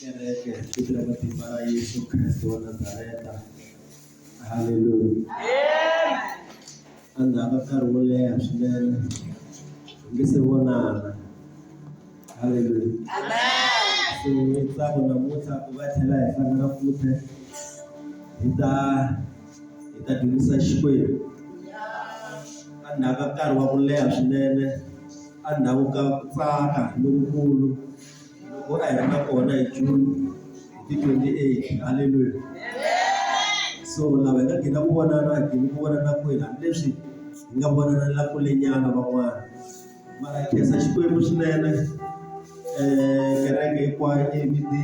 kereke ku tirha matimba ya Yesu Kriste wa Nazareta. Haleluya. A ndzi hava nkarhi wo leha swinene hi nge se vonana. Haleluya. So hi tsako namuntlha ku va tlhela hi hlangana futhi hi ta hi ta dyondzisa Xikwembu. A ndzi hava nkarhi wa ku leha swinene. Endzhaku ka ku tsaka lokukulu loku a hi ri na kona hi June hi ti 28, haleluya! So lava hi nga gina ku vonana a hi gini ku vonana kwini, hambileswi hi nga vonanela kulenyana van'wana, mara hi khensa Xikwembu swinene um kereke hinkwayo yi yimile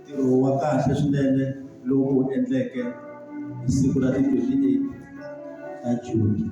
ntirho wa kahle swinene lowu hi wu endleke hi siku ra ti 28 ta June.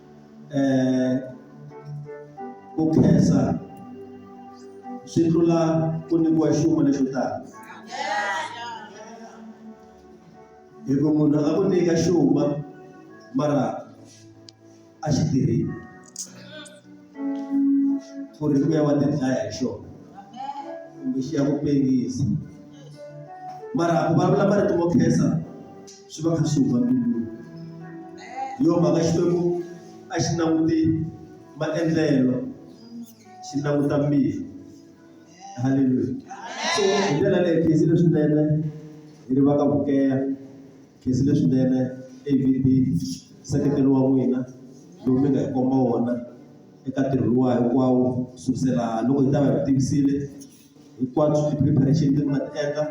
um ku khensa swi tlula ku nyikiwa nchumu lexo tala hi ku munhu a ku nyika xuma mara a xi tirhile ku ri ku ya wa tidlaya hi xona kumbe xi ya ku pengisa mara ku vulavula marito mo khensa. swi va kha swi huma mbilwini hi yo mhaka xikwembu a xi languti maendlelo xi languta mbilu halleluya so hi ndlela leyi khezi leswinene hi ri va ka vukeya khezi leswinene avd nseketelo wa n'wina lowu mi nga hi komba wona eka ntirho luwa hinkwawo kusukisela loko hi ta va hi tivisile hinkwabyo swi preparation leti mi nga ti endla,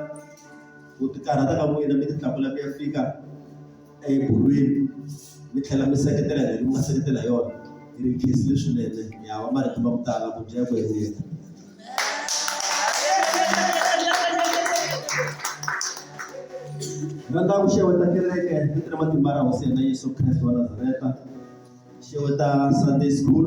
ku ti karhata ka n'wina mi ti tlakula mi ya fika ebolweni mi tlhela mi seketela hi mi nga seketela hi yona yi ri case leswinene ya va marito ma ku tala ku dya ku endlela. Rhandza ku xeweta kereke ni tirha matimba ra hosi ya hina Yeso Kreste wa Nazareta xeweta Sunday school.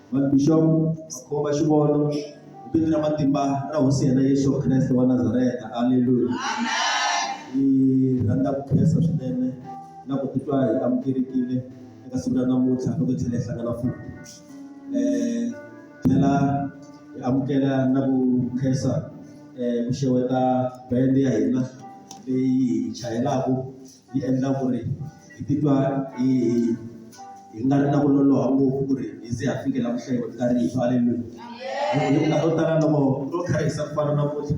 Vabixopo, Makhomba Xivono, hi vito ra matimba ra Hosi yena Yesu Kreste wa Nazareta. Aleluya. Hi rhandza ku khensa swinene na ku titwa hi amukelekile eka siku ra namuntlha loko hi tlhela hi hlangana futhi. Eh, tlhela hi amukela na ku khensa eh, ku xeweta bende ya hina leyi hi chayelaka yi endla ku ri hi titwa hi hi nga ri na ku loloha ngopfu ku ri hi ze ha fikela ku hlayiwa ka rifu haleluya hikuva to tala loko ro kharisa ku fana na futhi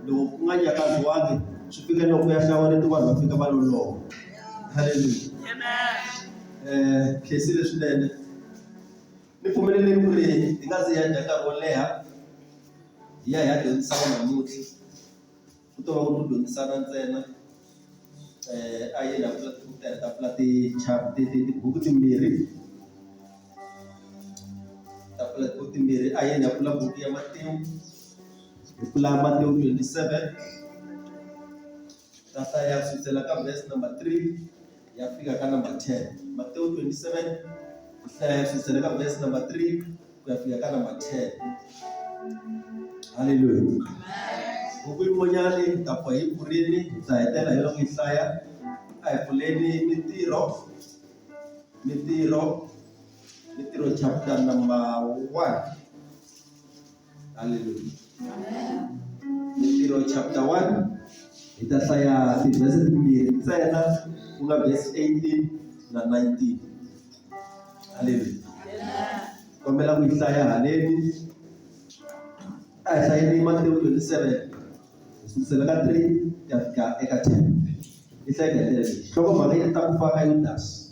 loko ku nga nyakaziwangi swi fika loko ya hlawareti vanhu va fika va loloha haleluya um khesi leswinene ni pfumeleleni ku ri hi nga ze hi ya dya nkarhi wo leha hi ya hi ya dyondzisa vanhu namuntlha. Ku to va ku dyondzisana ntsena a yi la tafula ti tibuku timbirhi tafula tibuku timbirhi a yi la pfula buku ya matimu hi pfula matimu twenty seven ka hlaya kusukela ka verse number three. ya fika ka number 10 Matthew 27 ku hlaya kusukela ka verse number 3 ku ya fika ka number 10 haleluya buku yin'wanyana yi ta pfa yi pfurile hi ta hetela hi loko yi hlaya a hi pfuleni mintirho mintirho mintirho chapter number 1 Haleluya. Ntirho chapter 1 hi ta hlaya tivhese timbirhi ntsena ku nga verse 18 na 19. Haleluya. Kombela ku yi hlaya haleni. A hi hlayeni Matewu 27 hi sukusela ka 3 ku ya fika eka 10. Hi hlaya hi ta ku fa ka Yudasi.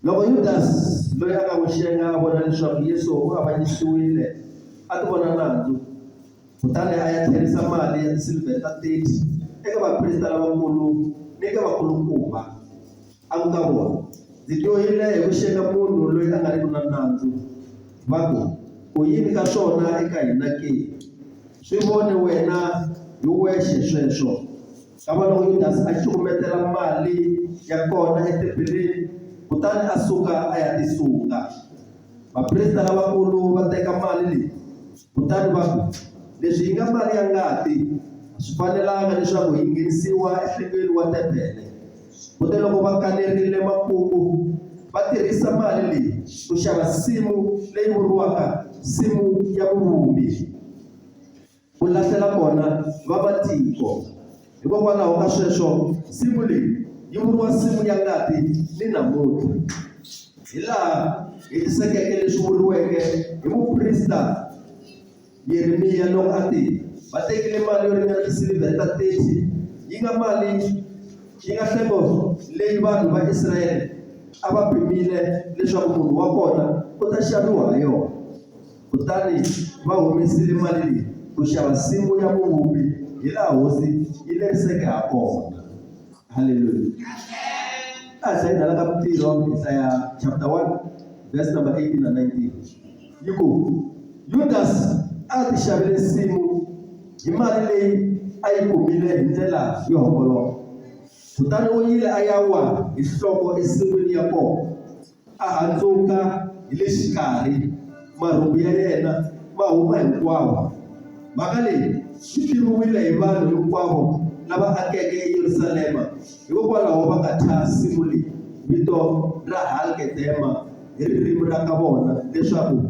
Loko Yudasi loyi a nga n'wi xenga a vona leswaku Yesu u avanyisiwile, a ti vona nandzu. Kutani a ya tlherisa mali ya tisilivhere ta 30 eka vaprista lavakulu ni eka vakulukumba, a ku ka vona, Ndzi dyohile hi ku xenga munhu loyi a nga riki na nandzu. Va ku, Ku yini ka swona eka hina ke? Swi vone wena hi wexe sweswo. Xana loko Yudasi a cukumetela mali ya kona etempeleni kutani a suka a ya tisunga, vaprista lavakulu va teka mali leyi kutani va ku, Leswi yi nga mali ya ngati, a swi fanelanga leswaku yi nghenisiwa enhlengweni wa tempele. Kute loko va kanerile makungu, va tirhisa mali leyi ku xava nsimu leyi vuriwaka Nsimu ya Muvumbi. ku lahlela kona vamatiko. Hikokwalaho ka sweswo, nsimu leyi yi vuriwa nsimu ya ngati ni namuntlha. Hilaha hetisekeke leswi vuriweke hi muprista Yeremiya loko a te, Va tekile mali yo ringana tisilivhere ta 30, yi nga mali yi nga nhlengo leyi vanhu va Israyele a va pimile leswaku munhu wa kona u ta xaviwa ha yona. Kutani va humesile mali leyi ku xava nsimu ya muvumbi hi laha hosi yi leriseke ha kona. Haleluya! A hi hlayeni hala ka Mintirho, hi hlaya chapter 1 verse number 18 na 19. Yi ku, Yudasi a a tixavele nsimu hi mali leyi a yi kumile hi ndlela yo homboloka, kutani u yile a ya wa hi nhloko ensin'wini ya kona. A handzuka hi le xikarhi, marhumbu ya yena ma huma hinkwawo. Mhaka leyi yi tivuriwile hi vanhu hinkwavo lava akeke eYerusalema, hikokwalaho va nga thya nsimu leyi vito ra Hal-kedema hi ririmi ra ka vona leswaku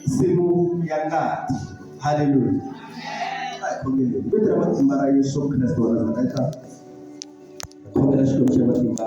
Nsimu ya Ngati. Haleluya! A hi khongeleni. Hi vito ra matimba ra Yesu Kreste wa Nazareta, hi khongela Xikwembu xa matimba.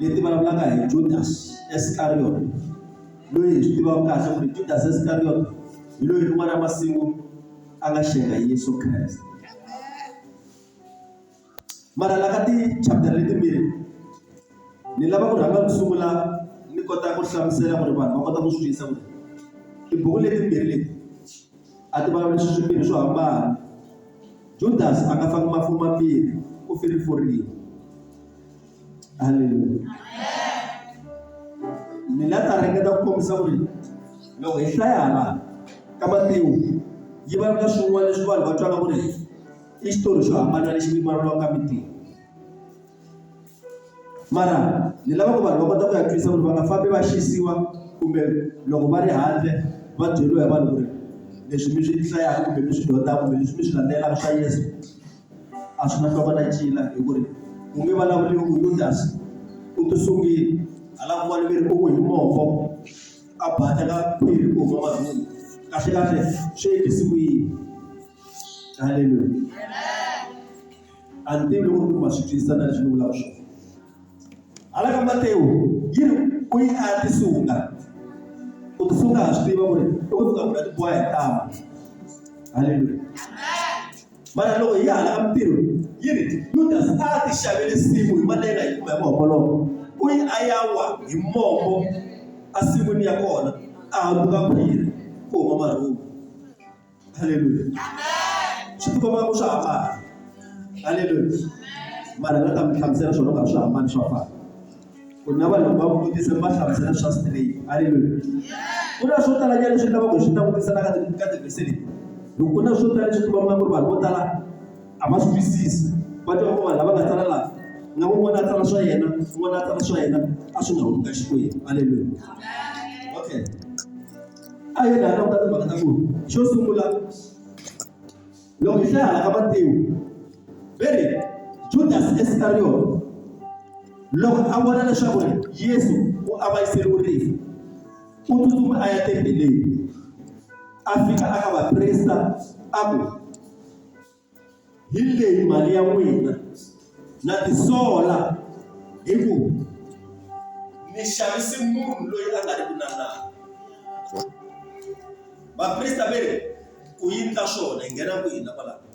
leti vulavulaka hi Judas Iscariot loyi hi swi tivaka kahle ku ri Judas Iscariot hi loyi rin'wana ra masiku a nga xenga Yesu Kreste mara la ka ti-chapter letimbirhi ni lava ku rhanga ku sungula ni kota ku hlamusela ku ri vanhu va kota ku swi twisisa ku ri tibuku letimbirhi leti A ti vulavuli swilo swimbirhi swo hambana. Judasi a nga faki mafu mambirhi, u feriforile. Haleluya! Ni nga ta ringeta ku kombisa ku ri loko hi hlaya hala ka Matewu, yi vulavula swin'wana leswi vanhu va twaka ku ri i xitori xo hambana lexi vulavuriwaka ka Matewu. mara ni lava ku vanhu va kota ku ya twisa ku ri va nga fambi va xisiwa kumbe loko va ri handle va byeriwa hi vanhu ku ri leswi mi swi hlayaka kumbe mi swi dyondzaka kumbe leswi mi swi landzelaka swa Yeso a swi na nhloko na ncila hi ku ri ku nge vulavuriwi ku Yudas u ti sungile hala kun'wana mi ri u ku hi mombo a baleka khwiri ku huma marhumbu kahlekahle swi endlisiwile haleluya. a ni tivi loko ku ma swi twisisa na leswi ni vulaka swona hala ka matewu yi ri ku yi a ya tisunga u tisunga ha swi tiva ku ri i ku suka ku ta tiboha hi tama halleluya mara loko hi ya hala ka mintirho yi ri yudasi a ti xavele simu hi malenga yi kuma hi mahomboloko u yi a ya wa hi mombo a sin'wini ya kona a hambuka khwiri ku huma marhumbu Haleluya. Swi ti komba ku swa hambana. Haleluya. Mara nga ta mi hlamusela swona ku a swi hambani swa fana. Ku na vanhu va mi vutisa mi va hlamusela swa straight. Haleluya. Ku na swo tala nyana leswi lavaka hi swi langutisa la ka ka tivhese leti. Hi ku na swo tala leswi ti vonaka ku ri vanhu vo tala a va swi twisisi. Va twa ku vanhu lava nga tsala laha na un'wana a tsala swa yena, un'wana a tsala swa yena a swi nga humi ka Xikwembu. Haleluya. Okay. a yi nga languta timhaka ta ku xo sungula loko hi hlaya ka matimu ve ri judasi iskariyoti loko a vona leswaku yesu u avanyiseriwe rifu u tsutsuma a ya tembeleni a fika a ka vaprista a ku hi leyi mali ya n'wina na tisola hi ku mi xavise munhu loyi a nga ri ku na nani vaprista ve ri ku yini ka swona hi nghena ku hina kwalaho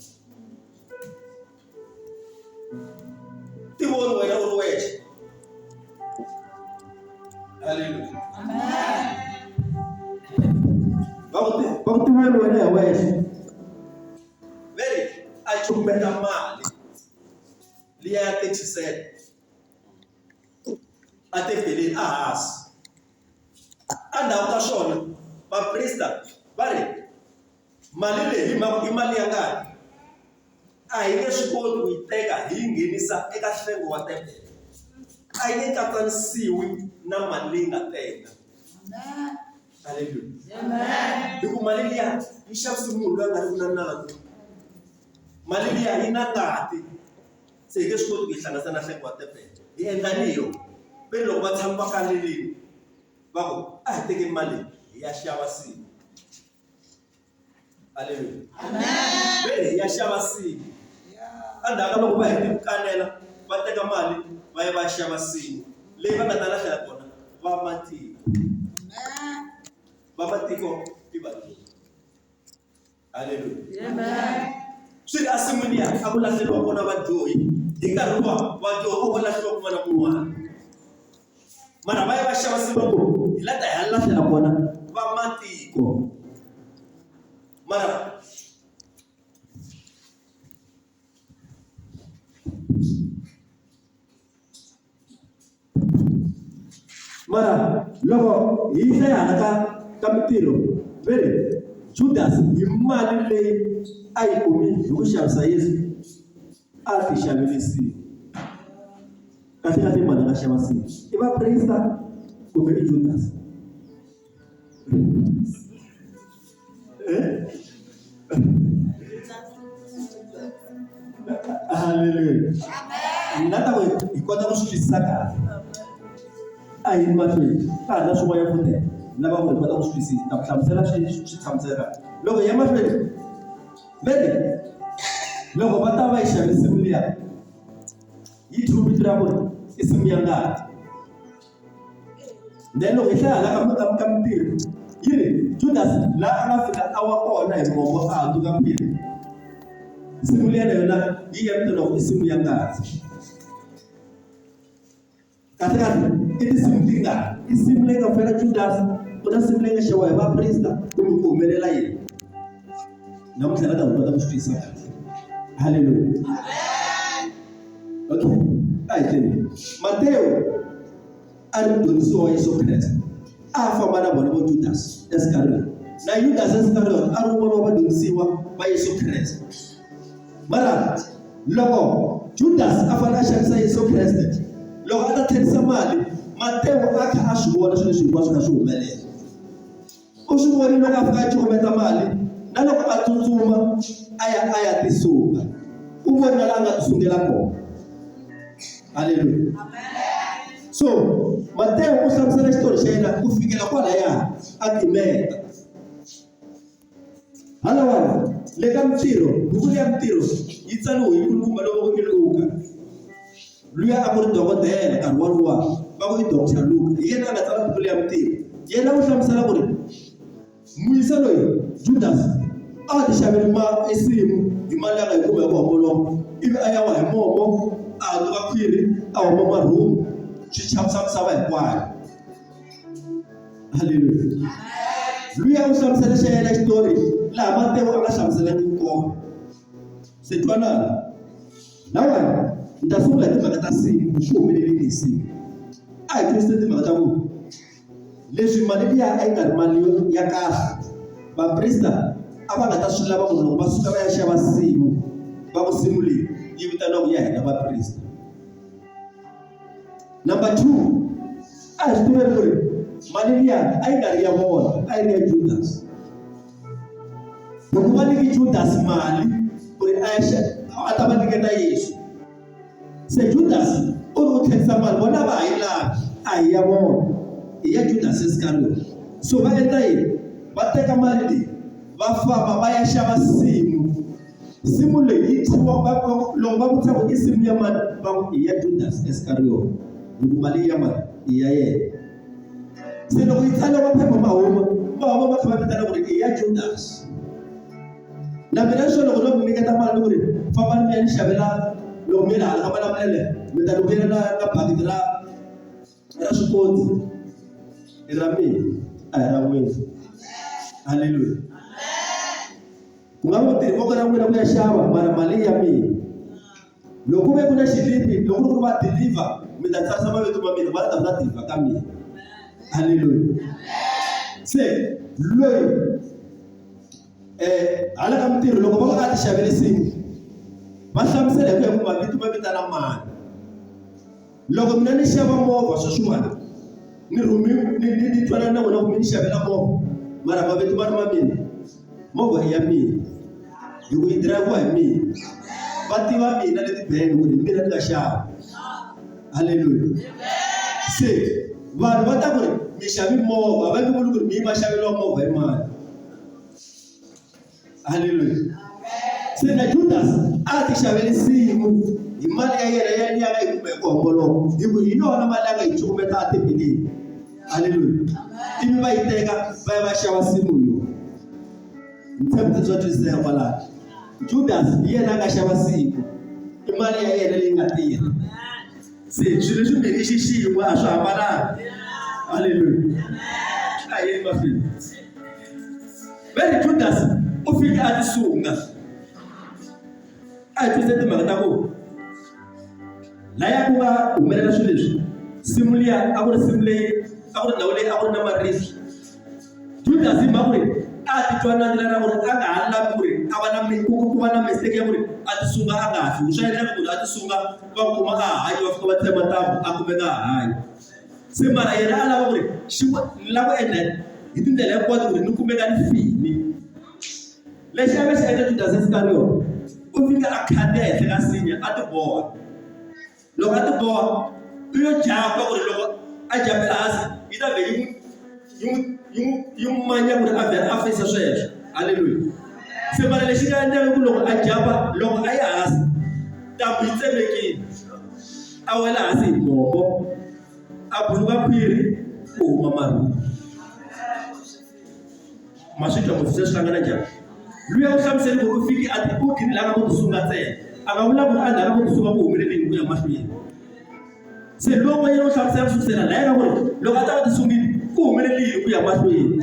tivoni wena u ri wexe halleluya va ku tivoni wena hi wexe veri a cumbeta mali liya ya thirty-seven a tebeleni a hansi a ndhawu ka swona vaprista va ri mali leyi hi mhaka i mali ya ngani a hi nge swi koti ku yi teka hi yi nghenisa eka hlengo wa tebele a yi nge katsanisiwi na mali leyi nga teka haleluya hi ku mali liya yi xavisa munhu loyi a nga ri na nandzu mali liya yi na ngati se hi nge swi koti ku yi hlanganisa na nhlengo wa tebele hi endla ni yo ve loko va tshami va kanelini va ku a hi tekeni mali hi ya xava siku aleluya ve hi ya xava sini endzhaku ka loko va hete ku kanela va teka mali va ya va ya xava sini leyi va nga ta lahlela kona va matiko va matiko i vatirhi aleluya swi ri a sin'wini ya a ku lahleriwa kona vadyohi hi nkarhi wa vadyohi a ku lahliwa kun'wana na kun'wana mara va ya va xava se va ku hi la ta hi ya lahlela kona va matiko mara mara loko hi yisa yi hala ka ka mitirho ve ri judasi hi mali leyi a yi kumi hi ku xavisa yesu A ti xavirisiwi. Kasi a ti mani a nga xava sini? I vaprista kumbe i Judas? Eh? Hallelujah. Ni nga ta ku hi kota ku swi twisisa kahle. A hi mahlweni ka ha ri na swin'wanyana futhi lava ku hi kota ku swi twisisa. Ta ku hlamusela swi swi tshamiseka. Loko hi ya mahlweni Vhele loko va ta va yi xave nsimu liya yi thumbi ra ku i nsimu ya ngati then loko hi hlaya hala ka ka ka mintirho yi ri Judas la a nga fika a wa kona hi mongo a hundzuka mbirhi nsimu liya na yona yi ya vito loko i nsimu ya ngati kahlekahle i tinsimu tingani tinsimu leyi nga fela judasi ku na nsimu leyi nga xewa hi vaprista kumbe ku humelela yini namuntlha nga ta kota ku swi twisisa kahle halleluya okay a hi teni mateyo a ri mudyondzisiwa wa yesu kreste a famba na vona vo judasi esikarhini na yudasi esikarhini a ri un'wana wa vadyondzisiwa va yesu kreste Mara loko Judasi a fanele a xanisa Yesu Kreste, loko a ta tlherisa mali, Matewu a kha a swi vona swilo leswi hinkwaswo kha swi humelela. U swi vonile loko a fika a cukumeta mali, na loko a tsutsuma a ya a ya tisunga. U vona laha a nga tisungela kona. Haleluya. So Matewu u hlamusela xitori xa yena ku fikela kwalaya a timeka. Halawawo, le ka mintirho, buku leyi ya mintirho yi tsariwe hi nkulukumba lowo va ku i Luka. Luya a ku ri dokodela nkarhi wolowo, va ku i Doctor Luka. Hi yena a nga tsala buku leyi ya mintirho. Yena u hlamusela ku ri muyisa loyi Judasi a ti xavele ma ensimu hi mali ya nga yi kuma hi ku homboloka, ivi a ya wa hi mombo, a hatuka khwiri, a huma marhumu, swi chavisa misava hinkwayo. haleluya luya u hlamusela xa yena xitori laha matewu a nga hlamuselaki kona se twanana lawani ni ta sungula hi timhaka ta siku swi humelelile hi siku a hi twisise timhaka ta ku leswi mali liya a yi nga ri mali ya kahle vaprista a va nga ta swi lava ku loko va suka va ya xava simu va ku simu leyi yi vitaniwa ku ya hina vaprista number two a hi swi tiva ku ri mali liya a yi nga ri ya vona a yi ri ya judasi loko va nyike judasi mali ku ri axa a ta va nyiketa yesu se judasi u ri u tlherisa mali vona va ha yi lavi a hi ya vona hi ya judasi iskariyoti so va endla yini va teka mali leyi va famba va ya xava simu nsimu leyi yi thyiwa va loko va vutisa ku i nsimu ya mani va ku i ya judasi iskariyota hi ku mali ya mani i ya yena se loko yi tsale va phepha mahuma va huma va kha va vitana ku ri i ya judasi na mina swo loko no mi nyiketa mali ku ri famba ni mi ya ni xavela loko mi ri hala ka malamulele mi ta ni vuyela na na bakiti ra ya swi koti i ra mina a hi ra n'wina haleluya ku nga ku tirhi voko ra n'wina ku ya xava mara mali ya mina loko ku ve ku na xilipi loko ku va deliver mi ta tsarisa mavito ma mina va ta va deliver ka mina haleluya se loyi eh hala ka mitirho loko va nga ti xavele nsimu va hlamusela hi ku ya ku mavito ma vitana mani loko mina ni xava movha sweswiwani ni rhumi ni ni ni twanana na vona kumbe ni xavela movha mara mavito ma ri ma mina movha i ya mina hi ku yi dirayivhiwa hi mina va tiva mina leti benge ku ri hi mina ni nga xava halleluya se vanhu va ta ku ri mi xavi movha va nge vuli ku ri mi yi va xaveriwa movha hi mani haleluya se na judas a ti xaveli siku hi mali ya yena ya liya nga yi kume hi ku homboloka hi ku hi yona mali a nga yi cukumeta a tebeleni haleluya ivi va yi teka va ya va xava simu yo ni tshembe ku bya twisiseka kwalaho judas hi yena a nga xava siku i mali ya yena leyi nga tirha se swilo leswi mbeke xixin'we a swi hambananga haleluya a yeni mahlweni ve ri judasi u fike a tisunga a hi twise timhaka ta ku laya ku nga humelela swilo leswi simu liya a ku ri simu leyi a ku ri ndhawu leyi a ku ri na marisi judasi hi mhaka ku ri a titwa na ndlela ra ku ri a nga ha lavi ku ri a va na ku va na mistake ya ku ri a tisunga a nga ha tlheli swa endleka ku ri a tisunga va kuma a hanya va fika va tsema ntambu a kumeka a hanya se mara yena a lava ku ri xi ni lava ku endla hi tindlela hinkwato ku ri ni kumeka ni fini lexi a va xi endla judasi iskariyoto u fika a khandiya henhla ka sinya a tiboha loko a tiboha u yo japa ku ri loko a japela hansi yi ta vhe yi n'wi yi n'wi yi n'wi yi n'wi manya ku ri a vhela a feyisa sweswo halleluya se mara lexi nga endlaka ku loko a japa loko a yi hansi ntambu yi tsemekile a wela hansi hi mombo a buluka khwiri ku huma marhumbu ma swi twa ku se swi hlangana njhani luya u hlamuseli ku u fike a ti u ginile a nga ku ku sunga ntsena a nga vulavula a ndhaka ku ku sunga ku humelele hi ku ya mahlweni se loko yena u hlamusela ku sukisela la yena ku ri loko a ta va ti sungile ku humelele hi ku ya mahlweni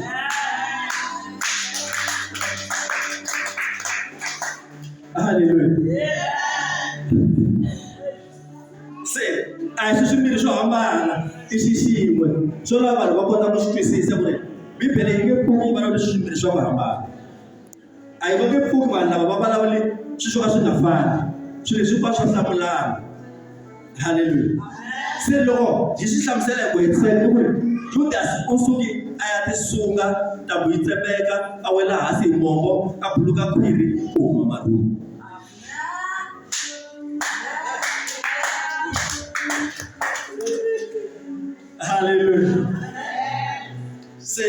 haleluya se a hi swi swimbirhi swo hambana i xi xin'we swo lava vanhu va kota ku swi twisisa ku ri bibele yi nge pfuki yi vulavula swi swimbirhi swa ku hambana a yi va nge pfuki vanhu lava va vulavule swilo swo ka swi nga fani swilo leswi va swa hlamulana haleluya se loko hi swi hlamusela hi ku hetisela ku ri judasi u suke a ya tisunga ntambu yi tsepeka a wela hansi hi mombo a buluka khwiri ku huma marhulu haleluya se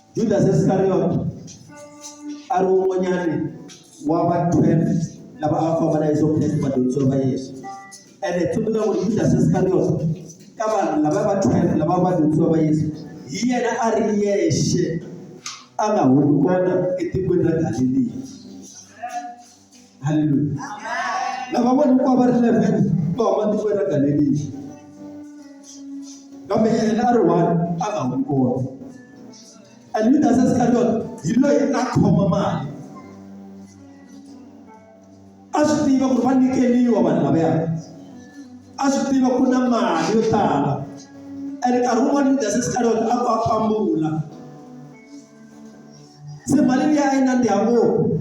Judas Iscariot a ri wun'wanyani wa va 12 lava a va famba na Yesu Kriste vadyondzisiwa va Yesu ene tsundzuka ku ri Judas Iscariot ka vanhu lava va 12 lava vadyondzisiwa va Yesu hi yena a ri yexe a nga humi kona etikweni ra Galiliya haleluya lava vona ku va ri 11 va huma tiko ra galeriya kambe yena a ri one a nga humi kona and yudasi iskariot hi loyi a khoma mali a swi tiva ku ri va nyikeriwa vanhu lavaya a swi tiva ku na mali yo tala and nkarhi wun'wana yudasi iskariot a ku a pambula se mali liya a yi nandziha ngopfu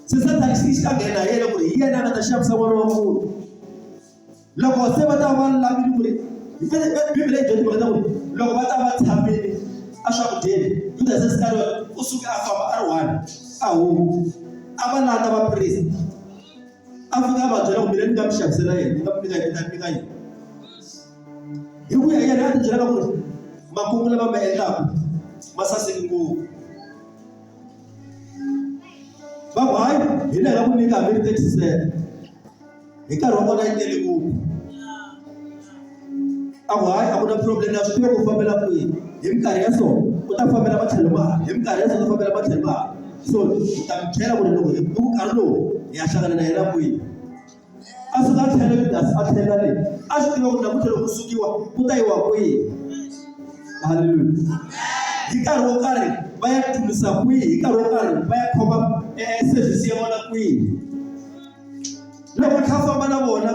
se sathana xi xi ta nghena hi yena ku ri hi yena a nga ta xavisa n'wana wa munhu loko se va ta va lavile ku ri bibele yi dyondzimaka ta ku ri loko va ta va tshamile eswakudyeni judase sikariyo u suke a famba a ri one a huma a va landa vaprista a ndzi nga va byela kumbe ni nga mi xavisela yena ni nga mi nyika yena ni nga yena hi ku ya yena a ndzi byela ku ri makungu lama ma endlaka ma saseki ngopfu va ku hayi hi le nga ku nyika hambi ri taxisela hi nkarhi wa kona yi tele ngopfu a ku hayi a ku na problem ya swi ku fambela kwihi hi minkarhi ya so u ta fambela matlhelo ma hi minkarhi ya so ta fambela matlhelo ma so hi ta mi byela ku ri loko hi ku nkarhi lowu hi ya hlangana na yena kwihi a suka a tlhela yudasi a tlhela le a swi tiva ku namuntlha loko ku sukiwa ku ta yiwa kwihi halleluya hi nkarhi wo karhi va ya tumisa kwihi hi nkarhi wo karhi va ya khoma eh, service ya vona kwihi loko kha famba na vona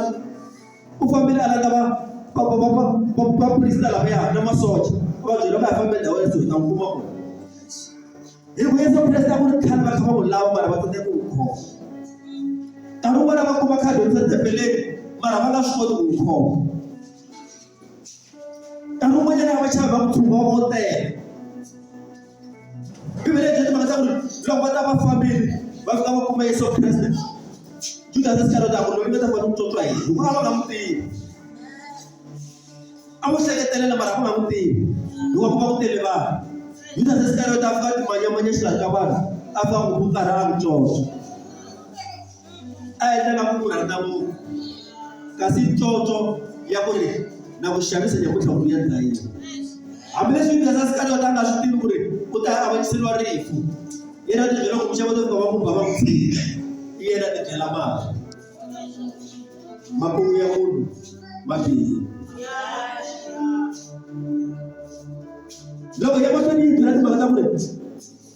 u fambile a lata vaprista lavaya na masocha a va byela va ya fambe ndhawu ya so hi ta n'wi kuma kona hi ku yesu kreste a ku ri khale va kha va n'wi lava mara va tete ku n'wi khoma nkarhi wun'wana va kuma khadi ri setepeleni mara va nga swi koti ku n'wi khoma nkarhi wun'wanyana va chava va ku thumba vo tele bibele yi timhaka ta ku ri loko va ta va fambile va fika va kuma yesu kreste judas iskariyota a ku loyi va ta kota ku tswotswa yini hikuva a va nga n'wi tivi a n'wi hleketelela mara a va nga n'wi tivi hikuva ku va ku tele vanhu judas iskariyota a fika a timanyamanya xilaha ka vanhu a fika a n'wi ku karhi a n'wi tswotswa a yi tala ku vula na munhu kasi ntlontlho ya ku ri na ku xavisa nyakutlha ku ya dlayini hambileswi yudasa sikariyota a nga swi tivi ku ri u ta avanyiseriwa rifu yena ti byela ku muxava ti va ku bava ku tshika i yena ti byela mali makungu ya munhu ma bihi loko ya mahlweni yi byela timhaka ta ku ri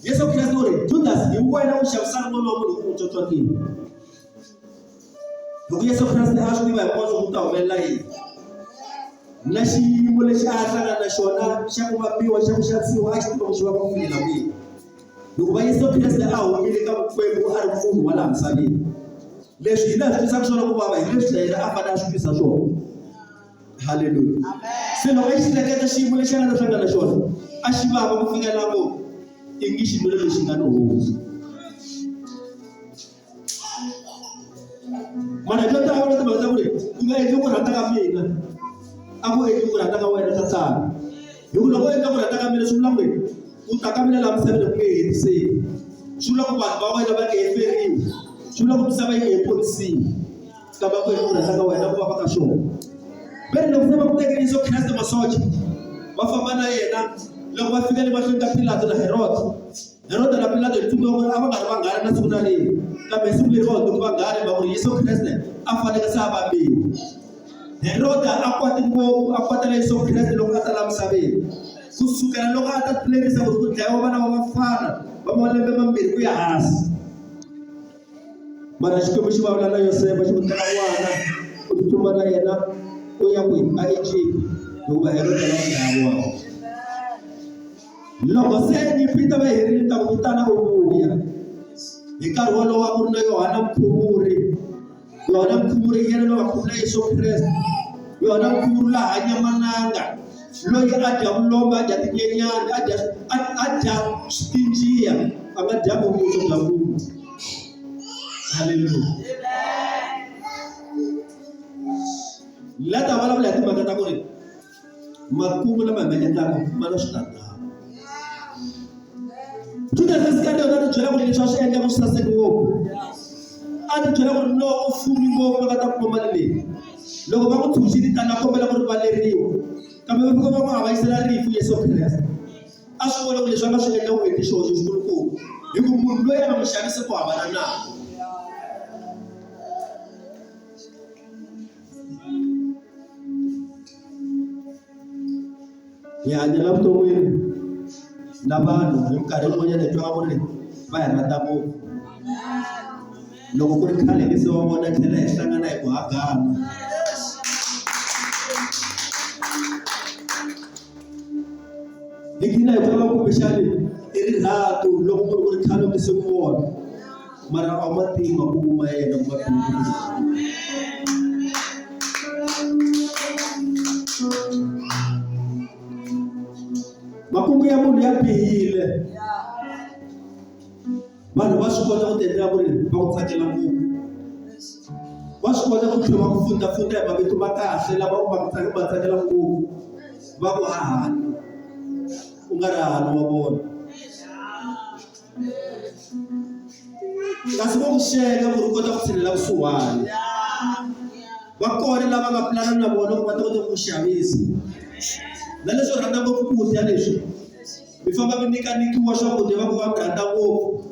Yesu Kristo uri Judas ni nguva ina kuxavisana n'wana wa munhu hi ku n'wi tsotsotiwa. Loko Yesu Kriste a swi tiva hinkwaswo ku ta humelela yini na xiyimo lexi a hlangana na xona xa ku vambiwa xa ku xavisiwa a xi tiva ku xi va ku fikela kwihi hikuva Yesu Kriste a humile ka vukwembu a ri munhu wa laha misaveni leswi hina hi swi twisaka swona ku vava hi leswi na yena a fanele a swi twisa swona haleluya se loko a xi hleketa xiyimo lexi a nga ta hlangana xona a xi vava ku fika la ko i ngi xinwelo lexi nga ni hosi mana byo tala va timhaka ta ku ri ku nga endli ku rhandza ka mina a ku endli ku rhandza ka wena tatana hi ku loko u endla ku rhandza ka mina swi vula ku ri u ta ka mina laha misaveni ku nge hetiseki swi vula ku vanhu va wena va nge heferiwi swi vula ku misava yi nge ponisiwi ka va ku hi ku rhandza ka wena ku va va ka swona ve ri loko se va ku tekele yesu kreste masocha va famba na yena loko va fika le mahlweni ka pilato na heroda heroda na pilato hi tumiwa ku ri a va nga ri vanghana na siku na rini kambe siku leri va hundze ku vanghana va ku ri yesu kreste a faneke se a vambiwa heroda a kwate ngopfu a kwatela yesu kreste loko a ta la misaveni ku sukela loko a ta lerisa ku ri ku dlayiwa vana va vafana va malembe mambirhi ku ya hansi mara xikwembu xi vulavula na yosefa xi n'wi teka n'wana u tsutsuma na yena u ya ku a egypt hikuva herode la dlaya n'wana loko se nyipita va herile ta ku vitana u vuya hi nkarhi wolowo a ku ri na yohana mkhuvuri yohana mkhuvuri yena loyi va khuvula yesu kreste yohana mkhuvuri la hanya mananga loyi a dya vulomba a dya tinyenyana a dya a a dya tinjiya a nga dya vumbiso bya munhu haleluya la ta vulavula hi timhaka ta ku ri makumu lama hi ma endlaka ma na switandzhaku judasi iskariota a ti byela ku ri leswi a swi endla ku saseki ngopfu a ti byela ku ri loko u fumi ngopfu va nga ta kuma mali leyi loko va n'wi phuxile tani a kombela ku rivaleriwa kambe va fika va n'wi havaisela rifu yesu kreste a swi vona ku leswi a nga swi endla ku hete xihoxo xikulukumba hi ku munhu loyi a nga n'wi xanise ku hambana nako hi hanya la vuton'wini na vanhu hi minkarhi yin'wanyana hi twa ku ri va hi rhandza ngopfu loko ku ri khale hi se wa vona tlhela hi hlangana hi ku hagana hi gina hi ku lava kumbexani i rirhandzu loko ku ri ku ri khale mi se ku vona mara a wu ma tivi makumu ma yena ku makumu ya munhu ya bihile vanhu va swi kota ku tiendlela ku ri va ku tsakela ngopfu va swi kota ku tlhela va ku fundafunda hi mavito ma kahle lava u va tsakela ngopfu va ku hahani u nga ri hahani wa vona kasi va ku sweka ku ri kota ku tlhelela vusiwana va kona lava nga pulana na vona ku va ta kota ku ku xavisa na leswi rhandza ngopfu ku dya leswi mi famba mi nyika nyikiwa swakudya va ku va mi rhandza ngopfu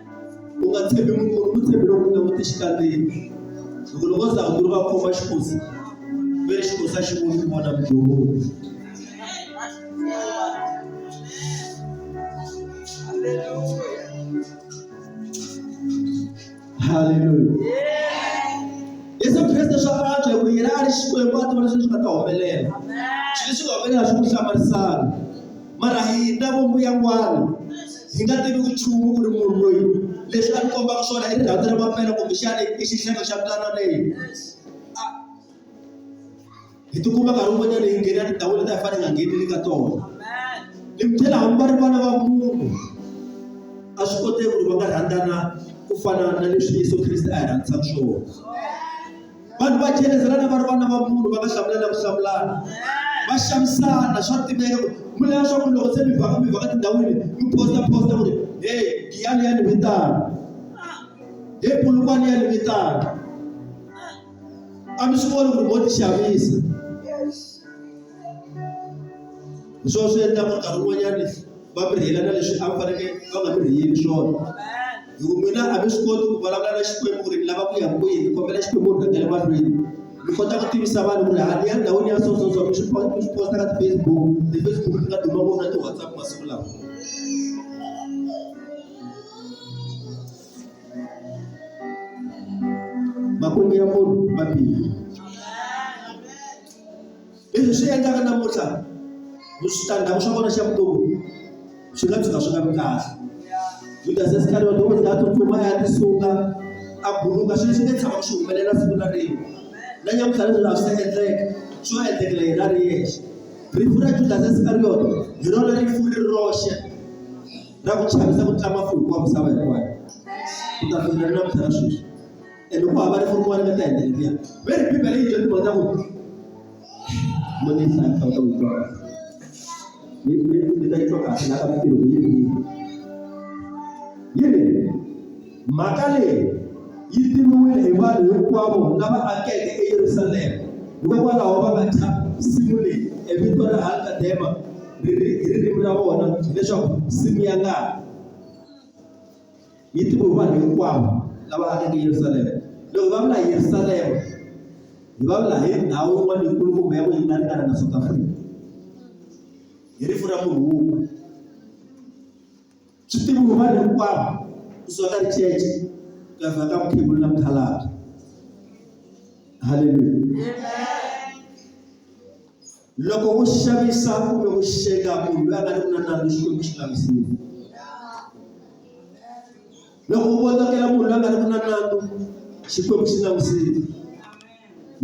u nga tshembi munhu u tshembi loko u langute xikandini loko loko za ku ri va khoma xikosi ve xikosi a xi voni ku vona mudyoholi haleluya yesu kreste swa antswa hikuva yena a ri xikwembu a tiva leswi swi nga ta humelela xi leswi nga humelela swi ku hlamarisana mara hina vomuyangwana hi nga tivi nchumu ku ri munhu loyi leswi a ni kombaka swona i rirhandzu ra mapela kumbexana i xihlelo xa mutana leyi hi tikuma nkarhi wun'wanyana hi nghena tindhawu leti a hi fanele hi nga ngheneli ka tona ni mi tlhela hambi va ri vana va munhu a swi koteki ku ri va nga rhandzana ku fana na leswi yesu kreste a hi rhandzisaka swona vanhu va chelezelana va ri vana va munhu va nga hlamulana ku hlamulana va xavisana swa tiveka ku mi lava swa ku loko se mi vhaka mi vhaka tindhawini mi posta posta ku ri he giyani ya ni vitana he pulukwani ya ni vitana a mi swi voni ku ri mo ti xavisa hi swona swi endlaka nkarhi wun'wanyani va mi rhiyelana leswi a mi fanekele va nga mi rhiyeli swona hi ku mina a mi swi koti ku vulavula na xikwembu ku ri ni lava ku ya kwihi ni kombela xikwembu ri rhangele mahlweni mi kota ku tivisa vanhu ku ri ha ni ya ndhawini ya so so so mi swi po- mi swi posta ka ti-facebook ti-facebook ti nga duma ngopfu na ti-whatsapp masiku lawa makungu ya munhu ma biha Leswi swi endlaka namuntlha switandzhaku swa kona xa vutomi swi nga tshuka swi nga vi kahle. Judasi Iskariyota u za a tsutsuma a ya tisunga a buluka swilo swi nge tshama swi humelela siku na rin'we. Na nyamutlha leswi laha swi ta endleka swi va endlekela yena a ri yexe. Rifu ra Judasi Iskariyota hi rona rifu ri ri roxe ra ku chavisa ku tlula mafumu wa misava hinkwayo. Ku ta fikela ni namuntlha na sweswi. e loko a va ri munhu wani va ta endla liya ve ri bibele yi dyondzisa kona ku monisa ta ku twa ni ni ni ta twa kahle la ka mintirho yi ri yi ri mhaka leyi yi tiviwile hi vanhu hinkwavo lava akeke eyerusalema hikokwalaho va nga thyaka nsimu leyi e vito ra halkadema ri ri hi ririmi ra vona leswaku nsimu ya ngati yi tiviwe hi vanhu hinkwavo lava akeke Yerusalema. Loko va vula hi Yerusalema, hi va vula hi ndhawu yin'wana yikulu kumbe ya ku yi ringana na South Africa. Hi rifu ra munhu wun'we. Swi tiviwe vanhu hinkwavo kusuka ka richeche ku ya fika ka mukhegulu na mukhalabye. Haleluya. Loko u xavisa kumbe u xeka munhu loyi a nga ri na nandzu Xikwembu xi nga mi siyi. Loko u votakela munhu loyi a nga ri na nandzu Xikwembu xi nga mi siyi.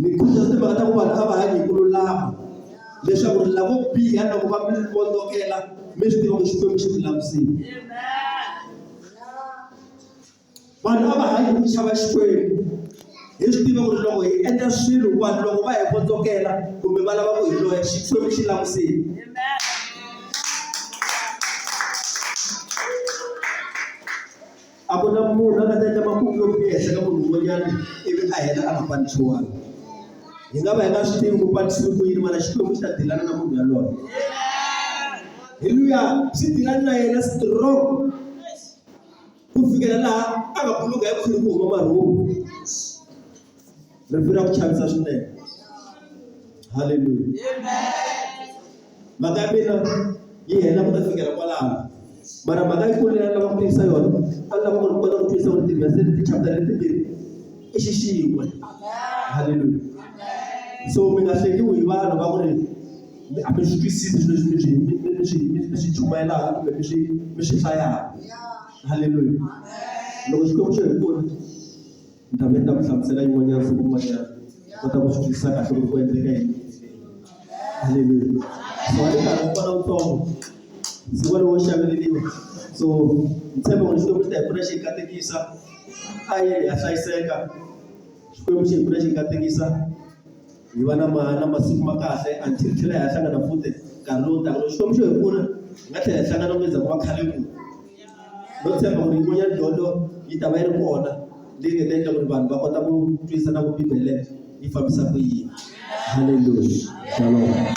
Ni khutaza timhaka ta ku vanhu a va hanyi hi ku lulama leswaku ri lavo biha loko va mi votakela mi swi tiva ku Xikwembu xi mi langusile. vanhu a va hanyi hi ku chava Xikwembu hi swi tiva ku ri loko hi endla swilo vanhu loko va hi votsokela kumbe va lava ku hi loya Xikwembu xi langusile a ku na munhu a nga ta endla makumu yo biha ehenhla ka munhu un'wanyana ivi a hela a nga panisiwanga hi nga va hi nga swi tivi ku panisiwi ku yini mana Xikwembu xi ta dilana na munhu yaloye heluya xi dilani na yena strong ku fikela laha a nga pfuluka hi khwiri ku huma marhumbu rivilo ra ku chavisa swinene haleluya mhaka ya mina yi hela ku ta fikela kwalaho mara mhaka yi kulu leyi a lava ku tiyisa yona a lava ku ri kota ku tiyisa ku ri tivhese leti chapita letimbirhi i xixin'we haleluya so mi nga hlekiwi hi vanhu va ku ri mi a mi swi twisisi leswi mi swi mi mi mi swi mi mi swi chumayelaka kumbe mi swi mi swi hlayaka haleluya loko xikwembu xo hi pfuna ni ta ve ni ta ku hlamusela yin'wanyana siku rin'wanyana kota ku swi twisisa kahle loko ku endleka yini haleluya so wa le karhi u fana wutsongo siku lowo xaveleliwa so ni tshembe ku ri xikwembu xi ta hi pfuna xi hi katekisa a yini ha hlayiseka xikwembu xi hi pfuna xi hi katekisa hi va na ma na masiku ma kahle until hi tlhela hi ya hlangana futhi nkarhi lowu taka loko xikwembu xo hi pfuna hi nga tlhela hi hlangana ku endzhaku ka khale ku no tshemba ku ri yin'wanyana dyondzo yi ta va yi ri kona leyi nga ta endla ku ri vanhu va kota ku twisisa na ku bibele yi fambisa ku yini halleluya shalom